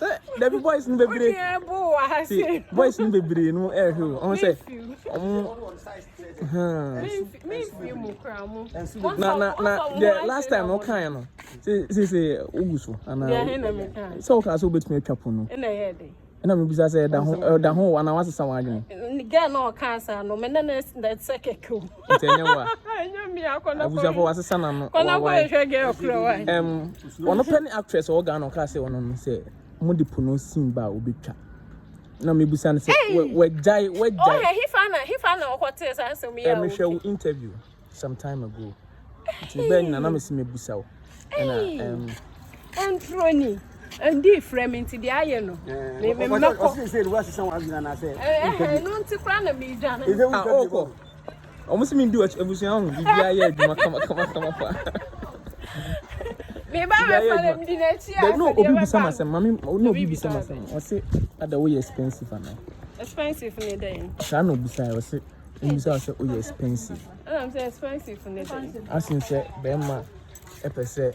Sɛ dabi boys no bebree. Wodeɛ bo wɔ ha se. Boys no bebree no ɛhwɛ o. Ɔmo sɛ. Ɔmo. Mimfi mu kura mo. Na na na the last time no kan no. Se se se ogu so. Ana. Sɛ o kan sɛ o betumi atwa po no. Ɛna yɛ de. Ɛna mi bisa sɛ ɛda ho ɛda ho ana wasesa wɔn adwene. Girl na ɔka asa no mɛ na na ɛsɛ kɛkɛ o. nti ɛnyɛ wo a abusuafo wasesa na no wawae ɛm ɔno pɛ ne actress ɔwɔ Ghana ɔka sɛ ɔno no sɛ mo de po no sin ba a obetwa na mebusa no sɛ wagyae wagyae ɔhɛ hefa na hefa na ɔkɔtee saa asɛm yi a mehwɛ wo interview some time ago nti bɛɛ nyina na mesi mebusa wo ɛna ɛm ɛnturo ni ndi frɛ me nti deɛ ayɛ no memmɛkɔ ɛno nti koraa na medwane ɔkɔ Ɔmo si mi di ɔkyɛ ebusua ho bibi ayɛ adwuma kama kama kama pa. Me ba me fa dem di na chi a. Bɛbi na obi bisa ma sɛm mami na obi bisa ma sɛm ɔsi ada woyɛ expensive ana. Expensive ne dɛn. Saa na obi sa yɛ ɔsi obi bisa ɔsi oyɛ expensive. Ɛna mi sɛ expensive ne dɛn. Asin sɛ bɛrima ɛpɛ sɛ.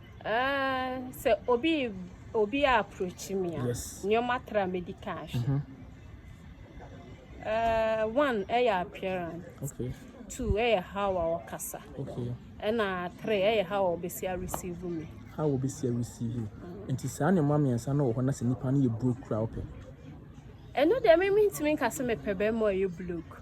Uh, sɛ obi obi a approach me a nneɛma tra me di kan hwɛ mhm. uh, one ɛyɛ appearance okay. two ɛyɛ how a ɔkasa okay. ɛna three ɛyɛ how a ɔbɛsi a receive me how a ɔbɛsi a receive me mm. nti saa nneɛma mmiɛnsa no wɔ hɔ na sɛ nipa no yɛ broke kura ɔpɛ ɛno deɛ me mentumi nka sɛ mepɛ bɛrima a ɔyɛ broke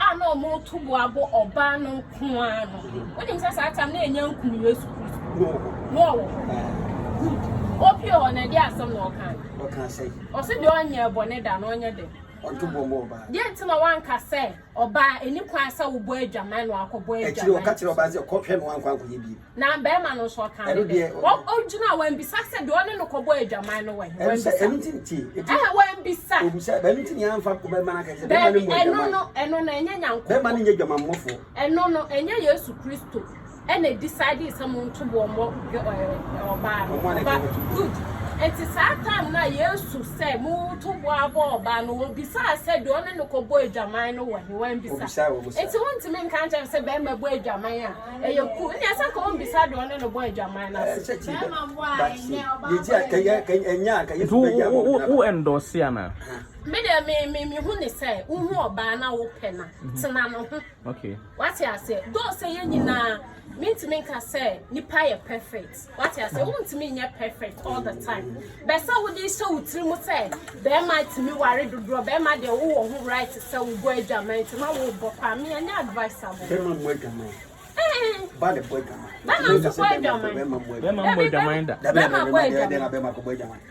a na wɔreto bo abɔ ɔbaa no nko ara no. Wonim sɛ saa tam no ɛnyɛ nkum Yesu Kristo. No wɔ hɔ. No wɔ hɔ. Good. Opie hɔ na ɛde asɛm na ɔka no. Ɔka sɛ. Ɔse deɛ ɔnyɛ bɔne da no ɔnyɛ dɛ. Ɔnto bo mmɔ ɔbaa. Deɛ nti na wanka sɛ ɔbaa ɛni kwan sɛ wobɔ adwaman na wakɔbɔ adwaman. Akyire ɔka kyerɛ ɔbaa sɛ kɔ hwɛ no wankɔ ankɔyɛ bio. Na barima no nso ɔka no dɛ ɔgyina wambisa sɛ deɛ ɔne no kɔbɔ adwaman no wɔ he wambisa ɛno nti nti ɛhɛ wambisa obisa ɛno nti nea amfa bɛma no akɛsɛ bɛma no mu adwaman ɛno no ɛno no ɛnyɛ nyankopɔ bɛma no nyɛ dwamammɔfoɔ ɛno no ɛnyɛ yesu kristo ɛna decide sɛ mo nto boɔ mmɔ ɔbaa no ɔba good ɛnti saa time no a yesu sɛ mo to boɔ abɔ ɔbaa no wɔbisaa sɛ deɛ ɔne no kɔbɔ adwaman no wɔ he wambisa ɛnti wontumi nka nkyɛn sɛ bɛma bɔ adwaman a ɛyɛ ku ne ɛsɛ ka wɔn bisa deɛ ɔne no bɔ adwaman no ase. ɛsɛ kyi bɛ but yɛ gyi a kɛyɛ kɛyɛ nya a kɛyɛ so bɛ gya wɔn gyina. wo ɛndɔsi ana. me deɛ me me me hu ne sɛ wohu ɔbaa na wopɛ na tena no ho. okay wate aseɛ dɔɔ sɛ yɛn nyinaa mentumi nka sɛ nipa yɛ perfect. Wate ase? Wontumi nyɛ perfect all the time. Bɛ sɛ wode hyɛ wo tiri mu sɛ bɛrima tumi ware dodoɔ, bɛrima deɛ wowɔ ho right sɛ wobɔ adwaman nti na wobɔ paa. Me ɛnyɛ advice abɔ. Bɛrima mmɔ adwaman. Ee. Ba na ɛbɔ adwaman. Bɛrima nso bɔ adwaman. Bɛrima mmɔ adwaman da. Bɛrima bɔ adwaman.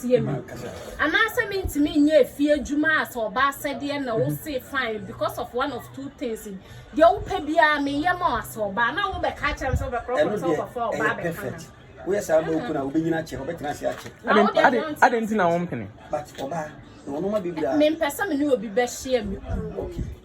tie me anaasɛ mentumi nyɛ efie adwuma a sɛ ɔba asɛdeɛ na wo se fine because of one of two things deɛ wopɛ biara meyɛ ma asɛ ɔba na wo bɛka akyerɛ me sɛ wobɛkorɔkorɔ sɛ wokɔfa ɔba bɛka na woyɛ saa ma oku na wobɛnyina akyɛ wobɛtena ase akyɛ ade nti na wompene mempɛ sɛ me ne obi bɛhyia me kunu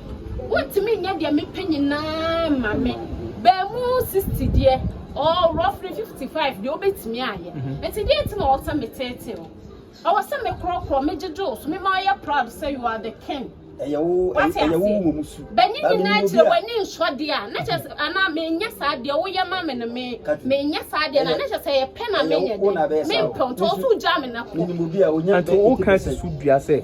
Wontumi nyɛ deɛ mepɛ nyinaa mma me. Baamu 60 deɛ, or roughly 55 deɛ wobɛtumi ayɛ. Mm-hmm. Nti deɛ nti na ɔwɔ sɛ meteetee wo. Ɔwɔ sɛ mekorɔkorɔ, megyegye wo so, mema ɔyɛ proud sɛ you are the king. Ɛyɛ wo ɛyɛ wo wɔ mu su. Bɛnye nyinaa kyerɛ w'ani nsɔ deɛ a, na kyerɛ sɛ mm-hmm. anaa menyɛ saa deɛ woyɛ ma me no me menyɛ saa deɛ na na kyerɛ sɛ yɛpɛ na menyɛ deɛ. Mempɛ nti ɔso gya me na kɔ. Nti woka susu dua sɛ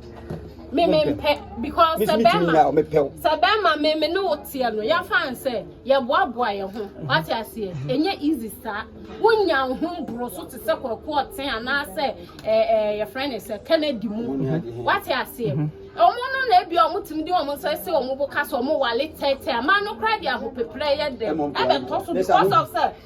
me me mpɛ because sɛ bɛrima sɛ bɛrima me me ne wo teɛ no yɛmfa n sɛ yɛboaboa yɛ ho wate aseɛ ɛnyɛ easy saa wonya wo ho mboro so te sɛ kɔkɔ ɔten anaasɛ yɛfrɛ ne sɛ kennedy mu wate aseɛ ɔmo no na ebi ɔmo tumi de ɔmo nsa si ɔmo bo ka sɛ ɔmo wale tɛɛtɛɛ amaa no koraa de ahopeprɛ yɛ dɛ ɛbɛtɔ so because of sɛ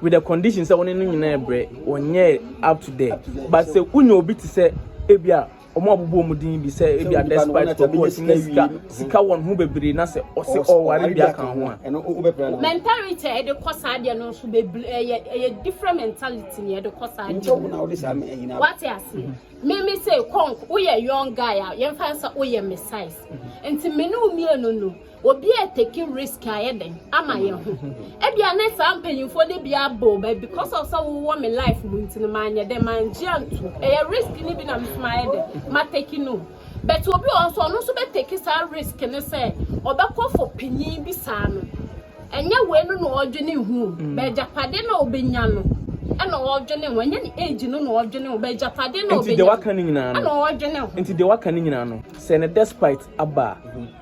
with the condition sɛ wɔne no nyinaa brɛ wɔnyɛ up to there but sɛ wonya obi te sɛ ebi a wɔn abobɔ wɔn din bi sɛ ebi a despite kɔkɔ ɔsi ne sika sika wɔn ho bebree na sɛ ɔsi ɔware bi aka ho a. mentality a yɛde kɔ saa deɛ no nso bebree ɛyɛ ɛyɛ different mentality na yɛde kɔ saa deɛ no wate ase mimi sɛ kɔnk woyɛ young guy a yɛn fa sɛ woyɛ me size nti mene wo mmienu no. Obi a taking risk ayɛ dɛn ama yɛn ho? Ebia ne saa mpanyinfoɔ no bi abɔ bɛ because of sɛ wowɔ me life mu nti no manyɛ dɛn mangye antu. Ɛyɛ risk no bi na meso mayɛ dɛn ma take no. But obi wɔ hɔ nso ɔno nso bɛ take saa risk no sɛ ɔbɛkɔ for panyin bi saa no. Ɛnyɛ wei no na ɔdwene ho o. Mm. Bɛgyapade na ɔbɛnya no ɛna ɔdwene ho. Ɛnyɛ ne age no na ɔdwene ho. Bɛgyapade na ɔbɛnya no ɛna ɔdwene ho. Nti deɛ waka no nyinaa no sɛ no despite aba a.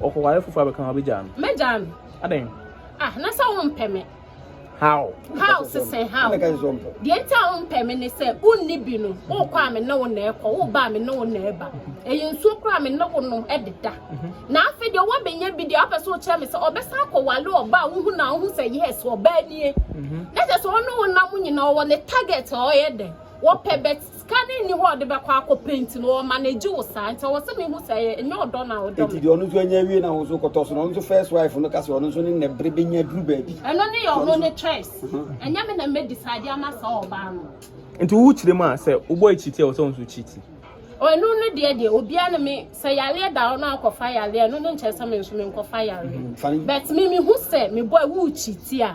Ɔkɔ ware foforɔ abɛka ho abɛgyaa no. Mɛgyaa no. Adɛn? Ah na sɛ wompɛ me. How? How sesɛ how? Deɛ nti a wompɛ me ne sɛ wonni bi no wokɔ a me ne wo na ɛkɔ woba a me ne wo na ɛba. Ɛyɛ nsuo koraa me ne wo nom ɛdeda. Na afei deɛ woabɛnya bi deɛ wopɛ sɛ wokyerɛ me sɛ ɔbɛsan akɔ ware ɔbaa a wohu no a wohu sɛ yes ɔbaa nie. Na kyerɛ sɛ ɔne wo nam nyinaa ɔwɔ ne target a ɔyɛ dɛn ɔpɛ but Sika no nni hɔ a ɔde bɛkɔ akɔ paint no ɔma no egye wo saa nti ɔwɔ sɛ me hu sɛ ɛyɛ nyɛ ɔdɔ na ɔdɔ me. Nti deɛ ɔno nso anya awie na wo nso kɔtɔ so na ɔno nso first wife no ka sɛ ɔno nso ne nɛ bere bɛnya duru baabi. Ɛno ne ɔno ne choice ɛnyɛ me na mɛ decide ama saa ɔbaa no. Nti wo kyerɛ mu a sɛ wo boy cheat a ɔwɔ sɛ wo nso cheat. Ɛno no deɛ deɛ obiara ne me sɛ yareɛ da ɔno akɔ fa yareɛ ɛno no nkyerɛ sɛ me nso me nkɔ fa yareɛ but me me hu sɛ me boy wo cheat a.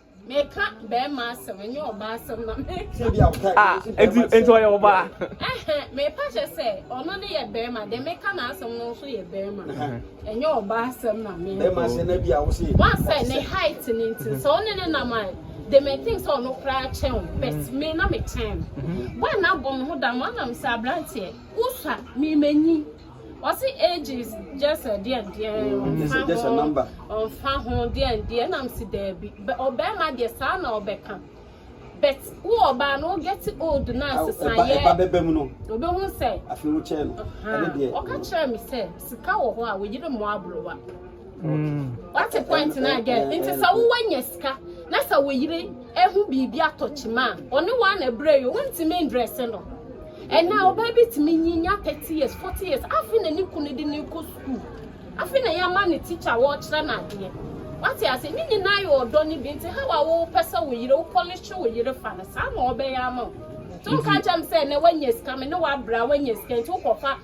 Meka bɛrima asɛm ɛnyɛ ɔbaa asɛm na meka. Ah, enti enti ɔyɛ ɔbaa. Ɛhɛ, mepa kyɛ sɛ ɔno ne yɛ bɛrima, deɛ meka n'asɛm no nso yɛ bɛrima. Ɛnyɛ ɔbaa asɛm na meka. Bɛrima asɛm na bi a wo se. Wɔn sɛ ne height ne nti sɛ ɔne ne nam a, they may think sɛ ɔno koraa kyɛn o, but mm-hmm. me na me kyɛn no. Mm-hmm. Wɔn na abɔ me ho dam, wɔn nam sɛ aberanteɛ, wosua, me menyi. Ɔse ages gyesɛ deɛdeɛ ɔnfa ho deɛdeɛ na mese daabi ɔbɛɛma deɛ saa na ɔbɛka but wo ɔbaa no wo get old na nsesayɛ ɔbɛhu sɛ ɔka kyerɛ me sɛ sika wɔ hɔ a wɔyere mmoa abrowa Wate point no a girl. Nti sɛ wowɔ nya sika na sɛ wo yere ehu biribi atɔ kyima a, ɔne wa na brɛ yo, wontumi ndrɛse no. Ɛnɛ ɔbaa bi tumi nyi nya 30 years, 40 years, afe na ne kunu de no kɔ school. Afe na yɛama no teacher wɔkyerɛ no adeɛ. Wate ase? Ne nyinaa yɛ ɔdɔ no bi. Nti how a wopɛ sɛ wo yere, wo polish wo yere fa no, saa na ɔbɛyɛ ama wo. So nka nkyerɛ me sɛ ɛnɛ wanya sika, me ne wo abrɛ a wanya sika nti wokɔfa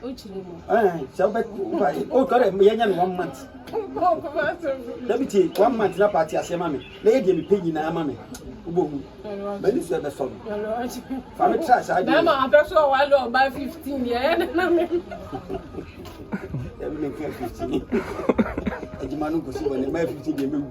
sɛ wobɛ o tɔ dɛ yɛnyɛ no one month da bi tie one month na paate aseɛ ma me na yɛ deɛ mepɛ nyinaa ma me wobɔ mu m'ani so ɛbɛsɔ no fa me tra saa deɛ bɛma apɛ so ɔwale ɔba 15 deɛ ɛyɛ ne na me ɛbi ne nka 15 adwuma no nkɔsi bɔ ne ma 15 deɛ mɛwu